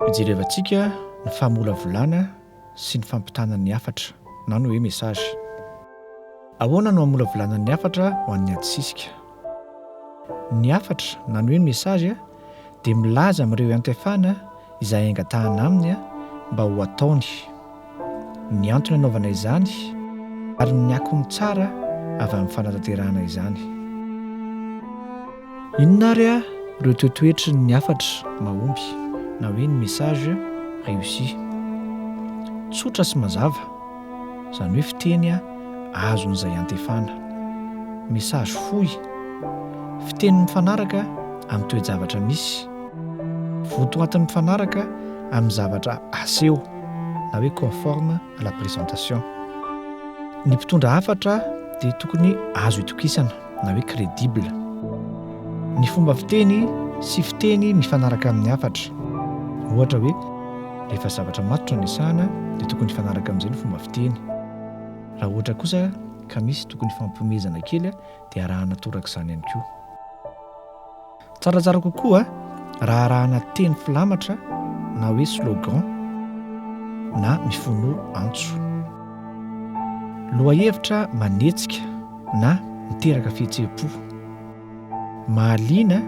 Hojerevantsika ny famolavolana sy ny fampitana ny hafatra na ny hoe message. Ahoana no hamolavolana ny hafatra ho an'ny adisisika? Ny hafatra na ny hoe message dia milaza amin'ireo iantefana izay angatahana aminy mba ho ataony, ny antony anaovana izany ary ny akony tsara avy amin'ny fanatanterahana izany. Inona ary ireo toetoetry ny hafatra mahomby na hoe ny message réussi? Tsotra sy mazava. izany hoe fiteny azon'izay antefana. Message fohy, fiteny mifanaraka amin'ny toe-javatra misy, votoatiny mifanaraka amin'ny zavatra aseho na hoe conforme à la présentation. Ny mpitondra hafatra dia tokony azo itokisana. na hoe crédible. Ny fomba fiteny sy fiteny mifanaraka amin'ny hafatra. Ohatra hoe, rehefa zavatra matotra no resahana dia tokony hifanaraka amin'izay ny fomba fiteny. Raha ohatra kosa ka misy tokony hifampihomezana kely dia arahana torak'izany ihany koa. Tsaratsara kokoa raha arahana teny filamatra na hoe slogan na mifono antso. Lohahevitra manetsika na miteraka fihetseham-po. Mahaliana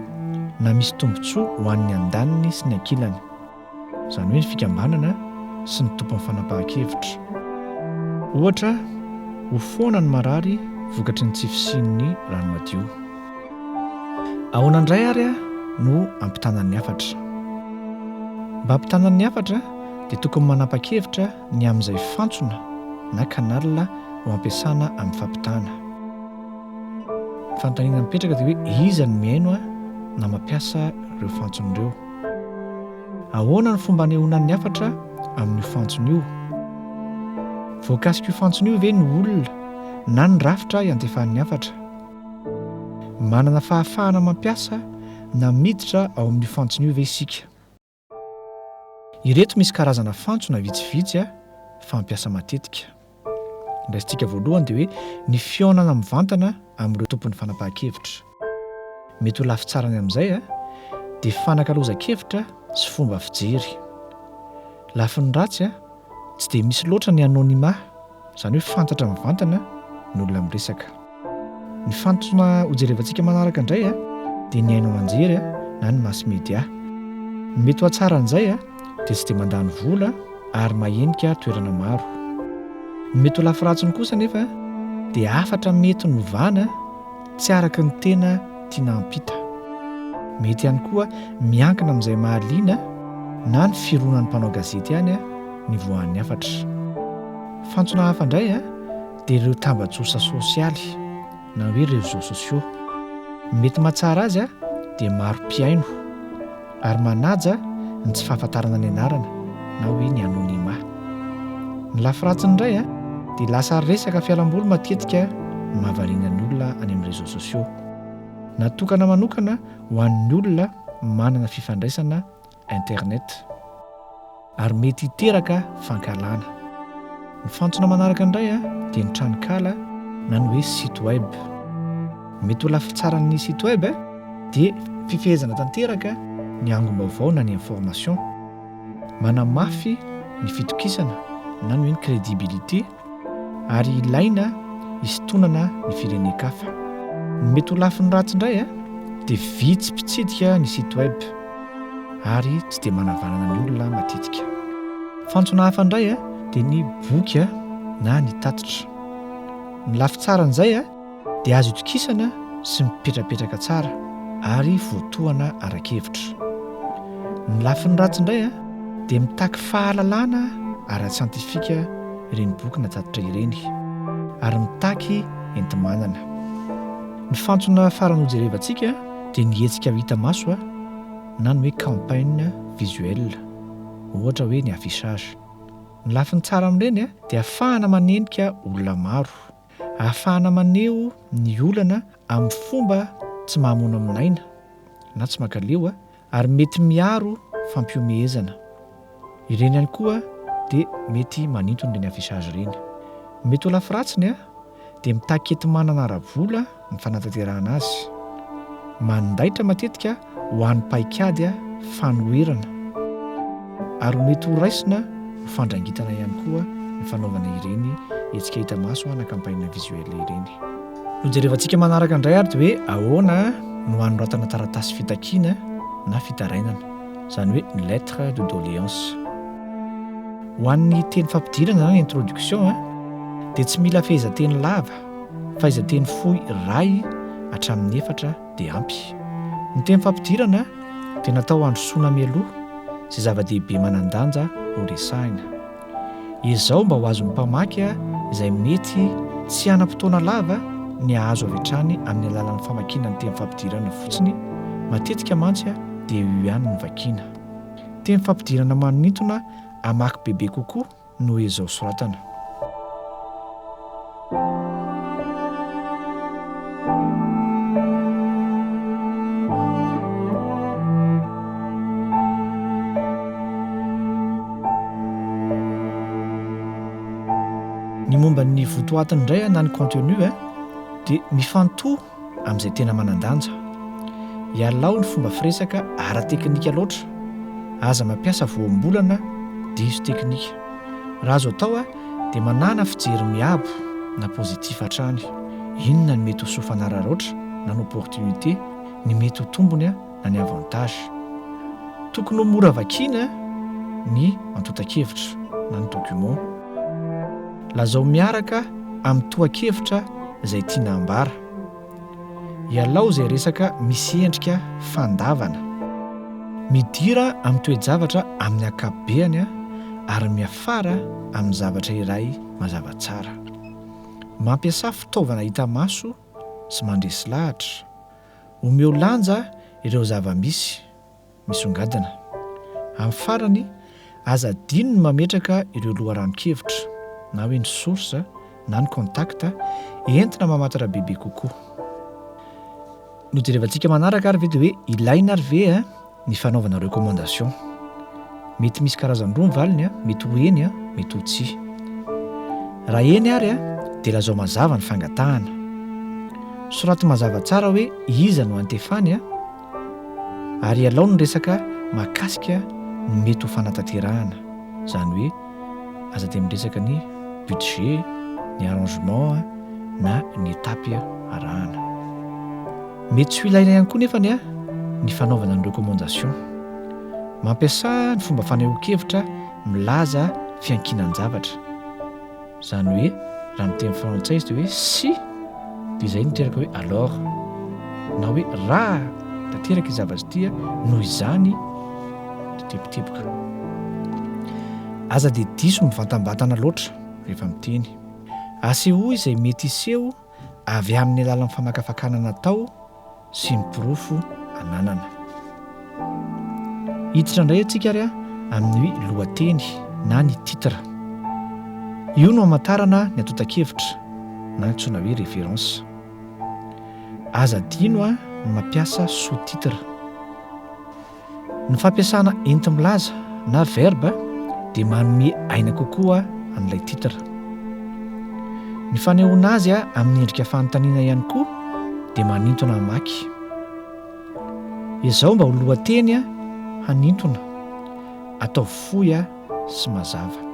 na misy tombontsoa ho an'ny andaniny sy ny ankilany. izany hoe ny fikambanana sy ny tompon'ny fanapahan-kevitra. Ohatra, ho foana ny marary vokatry ny tsy fisian'ny rano madio. Ahoana indray ary no hampitanan'ny hafatra? Mba hampitanan'ny hafatra dia tokony manapa-kevitra ny amin'izay fantsona na canal ho ampiasana amin'ny fampitana. Ny fanontaniana mipetraka dia hoe iza no mihaino na mampiasa ireo fantsona ireo? Ahoana no fomba anehoanan'ny hafatra amin'io fantsona io? Voakasik'io fantsona io ve ny olona na ny rafitra iantefan'ny hafatra? Manana fahafahana mampiasa na miditra ao amin'io fantsona io ve isika? Ireto misy karazana fantsona vitsivitsy fampiasa matetika. Ny raisintsika voalohany dia hoe ny fihaonana mivantana amin'ireo tompon'ny fanapahan-kevitra. Mety ho lafitsarany amin'izay dia fanakalozan-kevitra sy fomba fijery. Lafiny ratsy, tsy dia misy loatra ny anonymat, izany hoe fantatra mivantana ny olona miresaka. Ny fantsona hojerevantsika manaraka indray dia ny haino aman-jery na ny mass media. Ny mety ho hatsaran'izay dia tsy dia mandany vola ary mahenika toerana maro. Ny mety ho lafiratsiny kosa anefa dia hafatra mety novana tsy araka ny tena tiana hampita. Mety ihany koa miankina amin'izay mahaliana na ny fironan'ny mpanao gazety ihany ny voan'ny hafatra. Fantsona hafa indray dia ireo tambajotsa sosialy na hoe réseaux sociaux. Ny mety mahatsara azy dia maro mpihaino ary manaja ny tsy fahafantarana ny anarana na hoe ny anonymat. Ny lafy ratsiny indray dia lasa resaka fialamboly matetika no mahavariana ny olona any amin'ny réseaux sociaux. Natokana manokana ho an'ny olona manana fifandraisana Internet, ary mety hiteraka fankahalana. Ny fantsona manaraka indray dia ny tranonkala na ny hoe site web. Ny mety ho lafy tsaran'ny site web dia fifehezana tanteraka ny angom-baovao na ny information, manamafy ny fitokisana na ny hoe ny crédibilité, ary ilaina hisintonana ny firenen-kafa. Ny mety ho lafiny ratsy indray dia vitsy mpitsidika ny site web ary tsy dia manavanana ny olona matetika. Fantsona hafa indray dia ny boky na ny tatitra. Ny lafy tsara an'izay dia azo itokisana sy mipetrapetraka tsara ary voatohana ara-kevitra. Ny lafiny ratsy indray dia mitaky fahalalana ara-tsiantifika ireny boky natatitra ireny ary mitaky enti-manana. Ny fantsona farany hojerevantsika dia ny hetsika hita maso na ny hoe campagne visuelle, ohatra hoe ny affichage. Ny lafiny tsara amin'ireny dia afahana manendrika olona maro. Ahafahana maneho ny olana amin'ny fomba tsy mahamono amin'aina na tsy mankaleo ary mety miaro fampihomehezana. Ireny ihany koa dia mety manintona ireny affichage ireny. Ny mety ho lafiratsiny dia mitaky enti-manana ara-bola ny fanatanterahana azy. Mandaitra matetika ho an'ny paikady fanoherana ary ho mety horaisina ho fandrangitana ihany koa ny fanaovana ireny hetsika hita maso na campagne visuelle ireny. Hojerevantsika manaraka indray ary hoe ahoana no hanoratana taratasy fitakiana na fitarainana, izany hoe lettre de doléance. Ho an'ny teny fampidirana na introduction dia tsy mila fehezanteny lava Fahaiza-teny fohy iray hatramin'ny efatra dia ampy. Ny teny fampidirana dia natao handrosoana mialoha izay zava-dehibe manan-danja horesahina. Ezao mba ho azon'ny mpamaky izay mety tsy hanam-potoana lava ny hahazo avy hatrany amin'ny alalan'ny famakiana ny teny fampidirana fotsiny, matetika mantsy dia io ihany no vakina. Teny fampidirana manintona hamaky bebe kokoa. no ezao soratana. Ny momba ny votoatiny indray na ny contenu dia mifantoha amin'izay tena manan-danja. Ialao ny fomba firesaka ara-teknika loatra. Aza mampiasa voambolana diso teknika. Raha azo atao dia manàna fijery miabo na positif hatrany. Inona no mety ho soa fanararaotra na ny opportunité, ny mety ho tombony. na ny avantage. Tokony ho mora vakiana ny antontan-kevitra na ny document. Lazao miaraka amin'ny tohan-kevitra izay tiana hambara. Ialao izay resaka misy endrika fandavana. Midira amin'ny toe-javatra amin'ny ankapobeany ary miafara amin'ny zavatra iray mazava tsara. Mampiasà fitaovana hita maso sy mandresy lahatra. Omeo lanja ireo zava-misy misongadina. Amin'ny farany, aza adino ny mametraka ireo loharanon-kevitra, na hoe ny source na ny contact, entina mamantatra bebe kokoa. Nojerevantsika manaraka ary ve dia hoe ilaina ary ve? ny fanaovana recommandation. Mety misy karazany roa ny valiny, mety ho eny, mety ho tsia. Raha eny ary dia lazao mazava ny fangatahana. Soraty mazava tsara hoe iza no antefany ary ialao ny resaka mahakasika ny mety ho fanatanterahana, izany hoe. aza dia miresaka ny budget, ny arrangement na ny étape arahana. Mety tsy ho ilaina ihany koa nefany ny fanaovana ny recommandation. Mampiasa ny fomba fanehoan-kevitra milaza fiankinan-javatra. Izany hoe raha ny teny frantsay izy dia hoe si. Dia izay niteraka hoe alors na hoe raha tanteraka ity zavatra ity a, noho izany teboteboka. Aza dia diso mivantambatana loatra rehefa miteny. Asehoy izay mety hiseho avy amin'ny alalan'ny famakafakana natao sy ny porofo ananana. Hiditra indray antsika ary amin'ny lohateny na ny titre. Io no hamantarana ny antontan-kevitra na antsoina hoe référence. Aza adino ny mampiasa sous-titre. Ny fampiasana entimilaza na verba dia manome aina kokoa an'ilay titre. Ny fanehoana azy amin'ny endrika fanontaniana ihany koa dia manintona hamaky. Ezao mba ho lohateny hanintona, ataovy fohy sy mazava.